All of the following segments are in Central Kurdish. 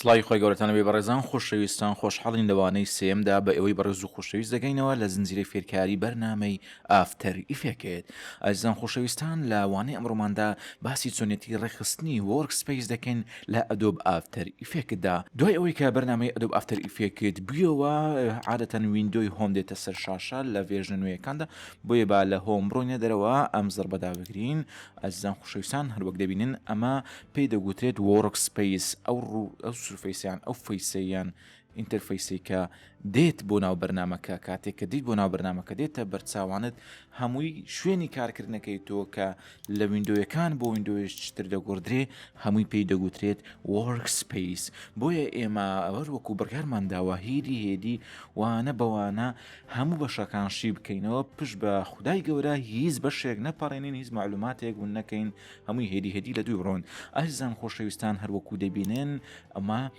سڵاوی خۆی گەورەتانەوەی بەڕێزان خۆشەویستان خۆشحاڵین لەوانەی سێمدا بە ئەوەی بەڕێز و خۆشەویست دەگەینەوە لە زنجیرەی فێرکاری بەرنمەی ئافتەر ئیفێکت، ئەزیزان خۆشەویستان لە وانەی ئەمڕۆماندا باسی چۆنیەتی ڕێکخستنی وۆرک سپەیس دەکەین لە ئەدۆب ئافتەر ئیفێکتدا دوای ئەوەی کە بەرنامەی ئەدۆب ئافتەر ئیفێکت بویەوە عادەتەن ویندۆی هۆم دێتە سەر شاشە لە ڤێرژنە نوێیەکاندا بۆیە با لە هۆم بڕۆینە دەرەوە ئەم زڕبەدا بگرین ئەزیزان خۆشەویستان هەروەک دەبینن ئەمە پێی دەگوترێت وۆرک سپەیس ئەو ڕوو ئەو سورفەیسیان ئەو فەیسەیان ئینتەرفەیسێک کە دێت بۆ ناو بەرنامەکە کاتێک کە دیت بۆ ناو بەرنامەکە دێتە بەرچاوانت هەمووی شوێنی کارکردنەکەی تۆ کە لە وینندۆیەکان بۆ وینندۆیشتر دەگۆدرێ هەمووی پێی دەگوترێت وەرکسپیس بۆیە ئێمە ئەوەر وەکو بڕگارمان داوە هێدی هێدی وانە بەوانە هەموو بەشەکان شی بکەینەوە پشت بە خدای گەورە هیچ بەشێک نەپەڕێنین هیچ معلوماتێک ون نەکەین هەمووی هێدی هێدی لە دوی بڕۆن ئەرزان خۆشەویستان هەروەکو دەبینێن ئەمە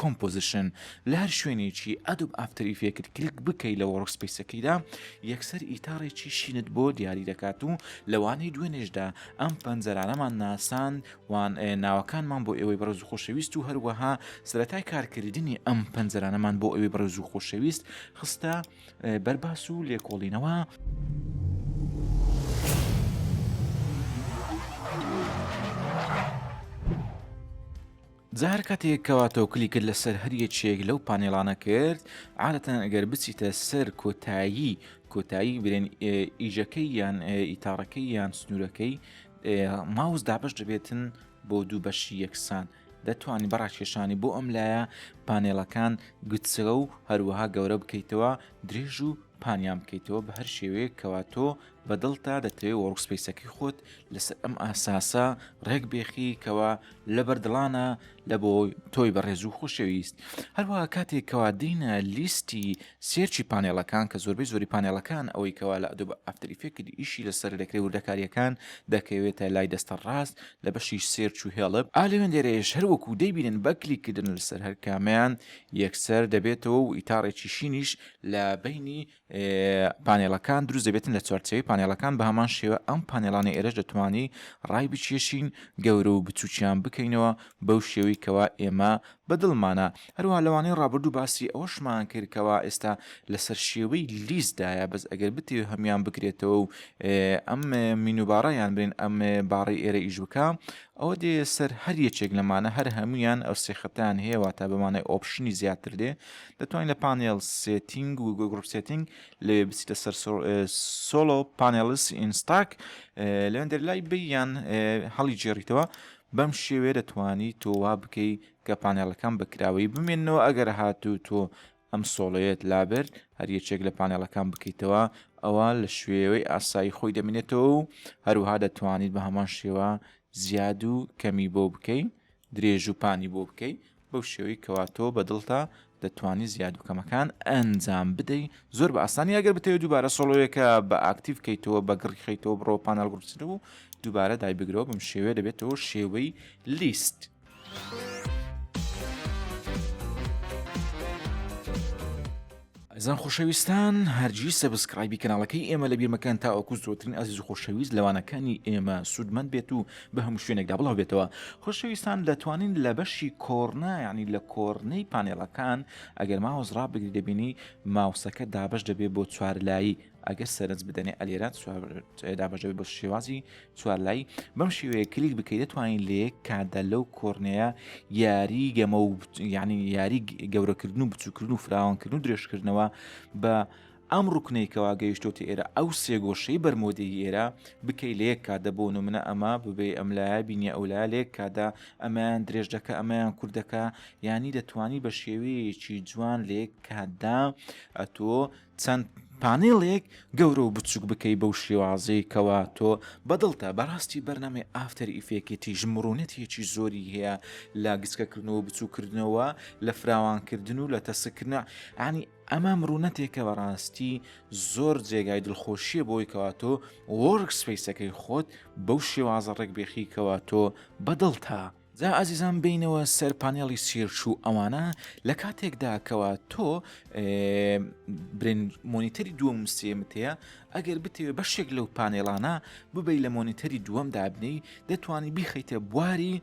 کۆمپۆزیشن، لە هەر شوێنێکی ئەدۆب ئافتەر ئیفێکت کلیک بکەی لە وۆرکسپەیسەکەیدا یەکسەر ئیتاڕێکی شینت بۆ دیاری دەکات و لەوانەی دوێنێشدا ئەم پەنجەرانەمان ناساند و ناوەکانمان بۆ ئێوەی بەڕێز و خۆشەویست و هەروەها سەرەتای کارکردنی ئەم پەنجەرانەمان بۆ ئەوی بەڕێز و خۆشەویست خستە بەرباس و لێکۆڵینەوە جا هەر کاتێک کەوا تۆ کلیکت لەسەر هەر یەکێک لەو پانێڵانە کرد عادەتەن ئەگەر بچیتە سەر کۆتایی کۆتایی برێن ئیژەکەی یان ئیتاڕەکەی یان سنوورەکەی ماوس دابش دەبێتن بۆ دوو بەشی یەکسان دەتوانانی بەڕاکێشانی بۆ ئەم لایە پانێڵەکان گوتسرە و هەروەها گەورە بکەیتەوە درێژ و پانیان بکەیتەوە بە هەر شێوەیە کەواتۆ بە دڵتا دەتەوێ وۆرکسپەیسەکەی خۆت لەسەر ئەم ئاساسە ڕێک بێخی کەوا لە بەردڵانە لە بۆ تۆی بەڕێز و خۆشەویست هەروە کاتێک کەوا دینە لیستی سێرچی پانێڵەکان کە زۆربەی زۆری پانێڵەکان ئەوەی کەوا لە ئەدو بە ئەفتریفێکت ئیشی لەسەر دەکرێت وردەکاریەکان دەکەوێتە لای دەستە ڕاست لە بەشی سێرچ و هێڵب ئالێن دێرێش هەروەکو دەیبینن بەکلی کردن لەسەر هەر کامیان یەکسەر دەبێتەوە و ئیتاڕێکی شینیش لە بینی پانێڵەکان دروست دەبێتن لە چوارچەوەی پانێڵەکان بە هەمان شێوە ئەم پانێڵانی ئێرەش دەتوانانی ڕای بچێشین گەورە و بچووکیان بکەینەوە بەو شێوەی کەوا ئێمە بەدڵمانە هەروە لەوانەی ڕابردوو باسی ئەوەشمان کردکەوە ئێستا لەسەر شێوەی لیستدایە بەس ئەگەر بتێ هەمان بکرێتەوە و ئەم مینوباڕیان بێن ئەم باڕی ئێرە ئیش بکە ئەوە دێ سەر هەر یەکێک لەمانە هەر هەموویان ئەو سێ خەتان هەیە واتا بەمانای ئۆپشنی زیاتر دێ دەتوانین لە پانێڵ سێتینگ و گروپ سێتینگ لەوێ بچیتە سەر سۆلۆ پانێلس ئینستاک لەوێن دەرلای بیان هەڵی جێڕیتەوە بەم شێوێ دەتوانی تۆوا بکەی کە پانێڵەکان بەکراوەی بمێنەوە ئەگەر هاتوو تۆ ئەم سۆڵەیەت لابرد، هەر یەکێک لە پانێڵەکان بکەیتەوە، ئەوا لە شوێوەی ئاسایی خۆی دەمێنێتەوە و هەروەها دەتوانیت بە هەمان شێوە زیاد و کەمی بۆ بکەی، درێژ و پانی بۆ بکەی، بەو شێوەی کەوا تۆ بە دڵتە دەتوانی زیاد و کەمەکان ئەنجام بدەی، زۆر بە ئاسانی ئەگەر بتەوێت دووبارە سۆڵۆیەکە بە ئاکتیڤ بکەیتەوە بە گڕی خەیتەوە بڕۆ پانێڵ گڕچن و دووبارە دایبگرەوە بەم شێوەیە دەبێتەوە شێوەی لیست. ئەزان خۆشەویستان هەرجی سەبسکرایبی کەناڵەکەی ئێمە لە بیرمەکان تا ئەوکو زۆترین ئازیز و خۆشەویست لەوانەکانی ئێمە سوودمەند بێت و بە هەموو شوێنێکدا بڵاو بێتەوە خۆشەویستان دەتوانین لە بەشی کۆرنا ینی لە کۆرنەی پانێڵەکان ئەگەر ماوەز ڕابگری دەبینی ماوسەکە دابش دەبێت بۆ چوارلایی ئەگەر سەرنج بدەنێ ئەلێرە دابژەوی بە شێوازی چوارلای بەم شێوەیە کلیک بکەیت دەتوانین لە یەک کاتدا لەو کۆرنەیە یاری گەمە و یعنی یاری گەورەکردن و بچووکردن و فراوانکردن و درێژکردنەوە بە ئەم ڕوکنێکەوە گەیشتۆتە ئێرە ئەو سێگۆشەی بەرمۆدەی ئێرە بکەی لە یەک کاتدە بۆ نمونە ئەمە ببێ ئەم لایە بینە ئەو لای لێک کادا ئەمەیان درێژ دەکە ئەمەیان کوردەکە ینی دەتوانی بە شێوەیەکی جوان لێک کاتدا ئەتۆ چەند پانێڵێک گەورە و بچوک بکەی بەو شێوازەی کەوا تۆ بەدڵتە بەڕاستی بەرنامەی ئافتەر ئیفێکتیش مڕونەتێکی زۆری هەیە لە گچکەکردنەوە بچوکردنەوە لە فراوانکردن و لە تەسکردنە عنی ئەمە مڕونەتێکە بەڕاستی زۆر جێگای دڵخۆشیە بۆی کەوا تۆ وەرگ سپیسەکەی خۆت بەو شێوازە ڕێک بێخی کەوا تۆ بەدڵتە جا ئازیزان بێینەوە سەر پانێڵی سیرچ و ئەوانە لە کاتێکدا کەوا تۆ مۆنیتەری دووەم سێمت هەیە ئەگەر بتەوێ بەشێک لەو پانێلانە ببی لە مۆنیتەری دووەم دابنی دەتوانی بیخیتە بواری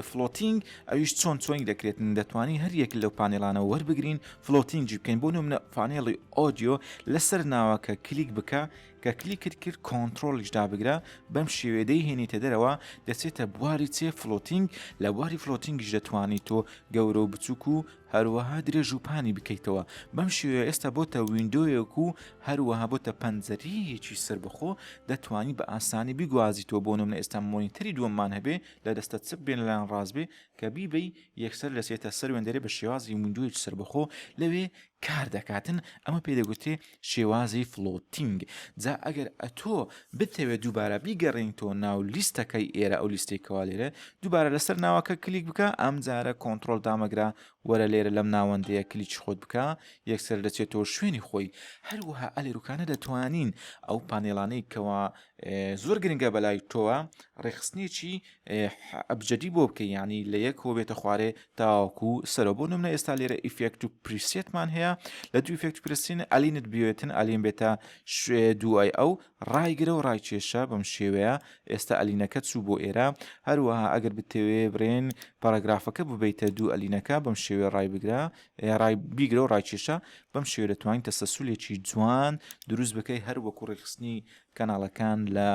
فلۆتینگ ئەویش چۆن چۆنی دەکرێت دەتوانی هەریەک لەو پانێلانە وەربگرین فلۆتینگی بکەین بۆ نمونە پانێڵی ئۆدیۆ لەسەر ناوەکە کلیک بکە کە کلیکت کرد کۆنترۆڵیش دابگرە بەم شێوێ دەیهێنیتە دەرەوە دەچێتە بواری چێ فلۆتینگ لە بواری فلۆتینگیش دەتوانی تۆ گەورە و بچووک و هەروەها درێژ و پانی بکەیتەوە بەم شێوێ ئێستا بۆتە وینندۆیەک و هەروەها بۆتە پەنجەریەکی سربەخۆ دەتوانی بە ئاسانی بگوازیتەوە بۆ نم لە ئێستا مۆنیتەری دووەممان هەبێ لە دەستە چپ بێن لەلایەن ڕاستبێ کە بیبی یەکسەر لەسێتە سەر وێندەرێ بە شێوازی وینندۆیەکی سربەخۆ لەوێ کار دەکاتن ئەمە پێ دەگوترێ شێوازی فلۆتینگ جا ئەگەر ئەتۆ بتەوێت دووبارە بیگەڕێنیتەوە ناو لیستەکەی ئێرە ئەو لیستی کەوا لێرە دووبارە لەسەر ناوەکە کلیک بکە ئەم جارە کۆنتترۆل دامەگرا وەرە لێرە لەم ناوەندەیە کلیچ خۆت بکە یەکسەر دەچێتەوە شوێنی خۆی هەروەها ئەلێروکانە دەتوانین ئەو پانێلانەی کەوا زۆر گرنگە بەلای تۆوە ڕێخستنیی ئێح ئەبجەدی بۆ بکەی یانی لە یەک هۆ بێتە خوارێ تاوەکو سەرۆ بۆ نمونە ئێستا لێرە ئیفێکت و پریسێتمان هەیە لە دوو ئیفێکت پرسین ئەلینت بوێتن ئەلین بێتە شوێ دوای ئەو ڕایگرە و ڕای کێشە بەم شێوەیە ئێستا ئەلینەکە چوو بۆ ئێرە هەروەها ئەگەر بتەوێ برێن پاراگرافەکە ببیتە دوو ئەلینەکە بەم شێوێ ڕای بگرە ڕای بیگرە و ڕای کێشە بەم شێوێ دەتوانین تەسەسولێکی جوان دروست بکەی هەر وەکو ڕێخستنی کەناڵەکان لە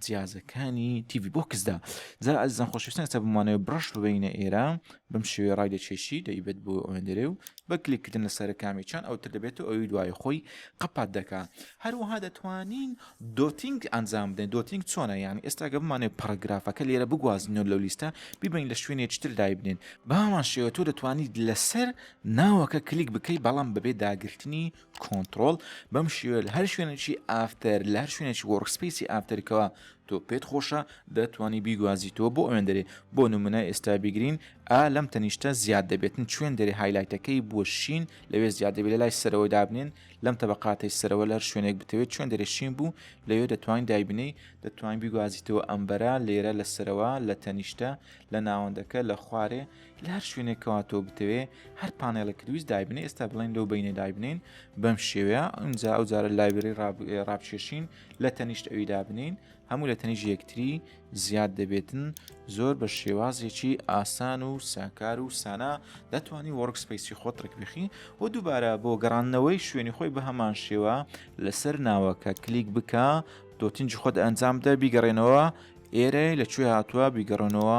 جیازەکانی تیڤی بۆکسدا جا ئەزان خۆشویستان سە بمانەوە بڕش ببینە ئێرە بم شێوێ ڕای دەچێشی دەیبێت بۆ ئەوێندرێ و بە کلیکردن لە سەرەکامی چەند ئەو تر دەبێت و ئەوی دوای خۆی قەپات دەکا هەروەها دەتوانین دۆتینگ ئەنجام بدەین دۆتینگ چۆنە یان ئێستا گە بمانێ پەرگرافەکە لێرە بگوازین و لەو لیستە ببین لە شوێنێ چتر دای بدەین بامان شێوە تۆ دەتوانیت لەسەر ناوەکە کلیک بکەیت بەڵام بەبێ داگرتنی کۆنتڕۆڵ بەم شێوە لە هەر شوێنێکی ئافتەر لە هەر شوێنێکی وەڕکسپیسی ئافتەرکەوە تۆ پێت خۆشە دەتوانی بیگوازیتەوە بۆ ئەوێن دەرێ بۆ نمونە ئێستا بگرین ئا لەم تەنیشتە زیاد دەبێتن چێن دەرێ هایلایتەکەی بۆ شین لەوێ زیاد دەبێت لە لای سەرەوە دابنێن لەم تەبقاتەی سەرەوە لەر شوێنێک بتەوێت چۆن دەرێ شین بوو لەوێ دەتوانین دایبنەی دەتوانین بیگوازیتەوە ئەمبەرە لێرە لە سەرەوە لە تەنیشتە لە ناوەندەکە لە خوارێ لە هەر شوێنێک کەوا تۆ بتەوێ هەر پانێڵێکت ویست دایبنێ ئێستا بڵێن لەو بینێ دایبنین بەم شێوەیە ئەمجا ئەو جارە لایبری ڕابچێشین لە تەنیشت ئەوی دابنین هەموو لە تەنیژ یەکتری زیاد دەبێتن زۆر بە شێوازێکی ئاسان و ساکار و سانا دەتوانانی وەرگسپیسی خۆت ڕکبخی و دووبارە بۆ گەڕانەوەی شوێنی خۆی بە هەمان شێوە لەسەر ناوەکە کلیک بکە دۆتنجی خۆت ئەنجام دە بیگەڕێنەوە ئێرە لە کوێ هاتووە بیگەڕێنەوە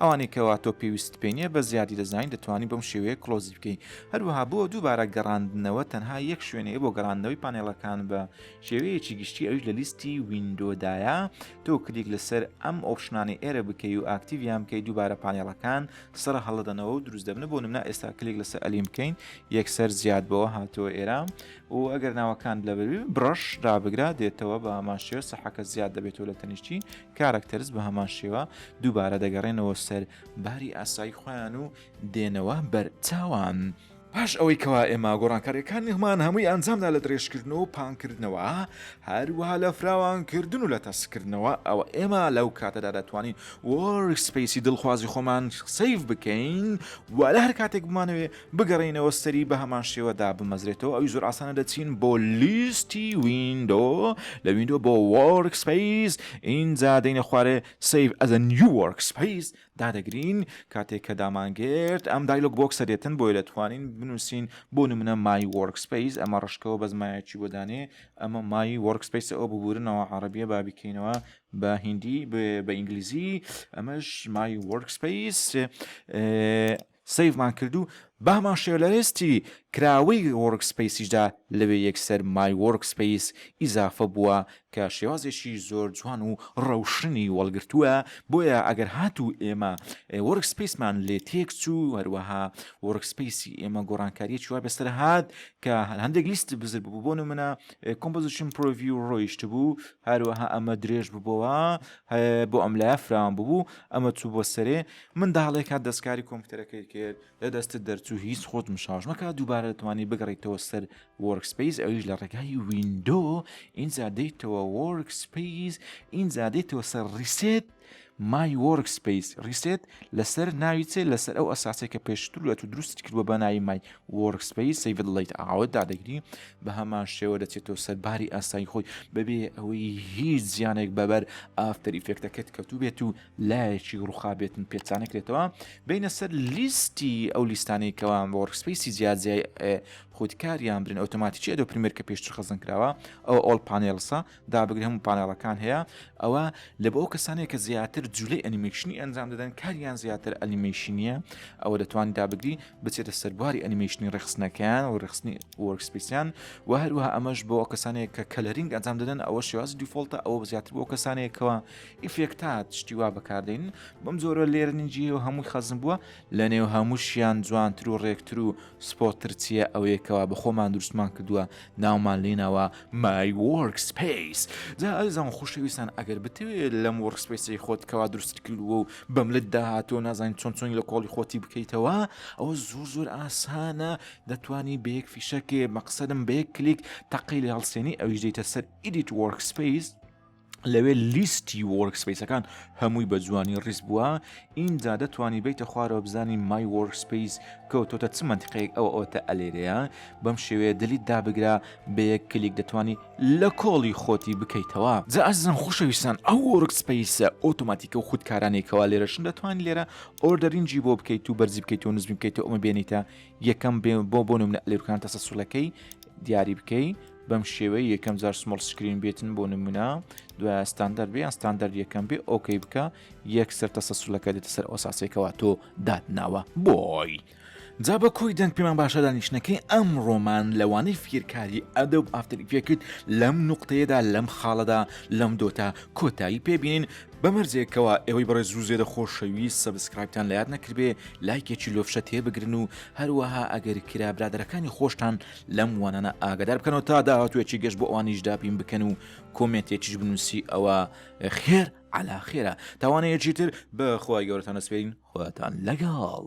ئەوانەی کەوا تۆ پێویستت پێ نییە بە زیادی دەزانی دەتوانی بەم شێوەیە کڵۆزی بکەی هەروەها بۆ دووبارە گەڕاندنەوە تەنها یەک شوێنەیە بۆ گەڕاندنەوەی پانێڵەکان بە شێوەیەکی گشتی ئەوش لە لیستی وینندۆدایە تۆ کلیک لەسەر ئەم ئۆپشنانی ئێرە بکەی و ئاکتیڤیان بکەی دووبارە پانێڵەکان سڕە هەڵدەنەوە و دروست دەبنە بۆ نمنا ئێستا کلیک لەسەر ئەلیم بکەین یەکسەر زیاد بەوە هاتەوە ئێرە و ئەگەر ناوەکان لە بەروی بڕەش دابگرا دێتەوە بە ماشێ سەحەکە زیاد دەبێتەوە لە تەنیشتی کارەکتەرز بە هەمان شێوە دووبارە دەگەڕێنەوە سەر باری ئاسایی خۆیان و دێنەوە بەر چاوان. پاش ئەوەی کەوا ئێمە گۆڕانکاریەکانیمان هەمووی ئەنجامدا لە درێژکردنەوە و پانکردنەوە هەروەها لە فراوانکردن و لە تەسکردنەوە ئەوە ئێمە لەو کاتەدا دەتوانین وۆرک سپەیسی دڵخوازی خۆمان سەیڤ بکەین و لە هەر کاتێک بمانەوێ بگەڕێینەوە سەری بەهەمان شێوە دابمەزرێتەوە ئەوی زۆر ئاسانە دەچین بۆ لیستی ویندۆ لە ویندۆ بۆ وۆرک سپیس ئینجا دەینە خوارێ سیف ئەزە نیو وۆرک سپیس دادەگرین کاتێک کە دامانگرت ئەم دایلۆک بۆکسە دێتن بۆی دەتوانین بنووسین بۆ نمونە مای وۆرک سپیس ئەمە ڕشکەوە بەس مایەکی بۆ دانێ ئەمە مای وۆرک سپیسە ئەو ببورنەوە عربیە بابیکەینەوە بە هندی بە ئینگلیزی ئەمەش مای وۆرک سپیس سەیڤمان کرد و بامان شێ لە لێستی کراوەی وۆرکسپەیسیشدا لەوێ یەکسەر مای وۆرکسپەیس ئیزافە بووە کە شێوازێکی زۆر جوان و ڕەوشنی وەڵگرتووە بۆیە ئەگەر هاتوو ئێمە وۆرکسپەیسمان لێ تێک چوو هەروەها وۆرکسپەیسی ئێمە گۆڕانکاریەکی وا بەسەر هات کە هەندێک لیستی بزر بوو بۆ نمونە کۆمپۆزیشن پرۆڤیو ڕۆیشت بوو هەروەها ئەمە درێژ ببووە بۆ ئەم لایە فراوان ببوو ئەمە چوو بۆ سەرێ منداڵێک هات دەستکاری کۆمپیوتەرەکەی کرد لە دەستت دەرچوو هیچ خۆت مشاش مەکە دووبارە دەتوانانی بگەڕیتەوە سەر وۆرکسپیس ئەویش لە ڕێگای وینندۆ ئینجا دەیتەوە وۆرکسپیس ئینجا دەیتەوە سەر ڕیسێت مای وۆرکسپیس ڕیسێت لەسەر ناوی چێ لەسەر ئەو ئەساسێک کە پێشتر لە تو دروست کردوە بە ناوی مای وۆرکسپیس سەیڤ لەیت ئاوت دادەگری بە هەمان شێوە دەچێتەوە سەر باری ئاسایی خۆی بەبێ ئەوەی هیچ زیانێک بەبەر ئافتەری فێکتەکەت کەوتو بێت و لایەکی ڕوخابێتن پێچانە کرێتەوە بینە سەر لیستی ئەو لیستانەی کەوان بۆ ڕکسپیسی جیاجیای خودکاریان برن ئۆتۆماتیکی ئەدۆ پرمێر کە پێشتر خەزن کراوە ئەو ئۆل پانێلسا دابگرن هەموو پانێڵەکان هەیە ئەوە لە بۆ ئەو کەسانێک کە زیاتر جوولەی ئەنیمێشنی ئەنجام دەدەن کاریان زیاتر ئەنیمێشنیە ئەوە دەتوانانی دابگری بچێتە سەرباری ئەنیمێشنی ڕخستنەکەیان و ڕخستنی وەرکسپیسیان و هەروە ئەمەش بۆ ئەو کەسانێک کە کەلەرینگ ئەنجام دەدەن ئەوە شێوازی دیفۆلتە ئەوە زیاتر بۆ کەسانێکەوە ئیفێکتات شتی وا بەکاردێنن بەم جۆرە لێرنی جیێ و هەمووی خەزم بووە لە نێو هەمووشیان جوانتر و ڕێکتر و سپۆتر چییە ئەوەیەکەوە بە خۆمان دروستمان کردووە ناومان لێناوە مای وەرک سپیس جا ئەزان خوشەویستان ئەگەر بتوێت لەم وەرک سپیسی خۆت کەوا دروست کردووە و بەم لە داهاتۆ نازانین چۆن چۆنی لە کۆڵی خۆتی بکەیتەوە ئەوە زۆر زۆر ئاسانە دەتوانی بەیەک فیشەکێ مەقصدم بەیەک کلیک تەقی لە هەڵسێنی ئەویش دەیتە سەر ئیدیت وەرک سپیس لەوێ لیستی وۆرک سپیسەکان هەمووی بە جوانی ڕیز بووە ئینجا دەتوانی بیتە خوارەوە بزانی مای وۆرک سپیس کەوتۆتە چ منتیقەیەک ئەو ئەوتە ئەلێرەیە بەم شێوەیە دلیت دابگرە بە یەک کلیک دەتوانی لە کۆڵی خۆتی بکەیتەوە جا ئەزم خوشەویستان ئەو وۆرک سپیسە ئۆتۆماتیکە و خودکارانێکەوە لێرەشن دەتوانانی لێرە ئۆردەرینجی بۆ بکەیت و بەرزی بکەیت و نزمی بکەیت و ئەمە بێنیتە یەکەم بۆ بۆ نمونە لێرکان تەسە سوولەکەی دیاری بکەی بەم شێوەی یەکەم جار سمڵ سکرین بێتن بۆ نمونە دوای ستاندەر بێ ستاندەر یەکەم بێ ئۆکەی بکە یەک سەر تەسە سولەکە دێتە سەر ئۆساسێکەوە تۆ دادناوە بۆی. جا بە کۆی دەنگ پێمان باشە دانیشتنەکەی ئەم ڕۆمان لەوانەی فێرکاری ئەدە و ئافتەریفێکت لەم نقطەیەدا لەم خاڵەدا لەم دۆتا کۆتایی پێبینین بەمەرجێکەوە ئێوەی بەڕێ زوو زێدە خۆشەوی سەبسکرایبتان لات نەکردێ لایکێکی لۆفشە تێبگرن و هەروەها ئەگەر کرا برادەرەکانی خۆشتان لەم وانانە ئاگدار بکەنەوە تا داهاتوێکی گەشت بۆ ئەوانیش دابین بکەن و کۆمێتێکیش بنووسی ئەوە خێر علا خێرە تاوانەیەکی تر بەخوای گەورەتان نەسپێین خواتان لەگەڵ.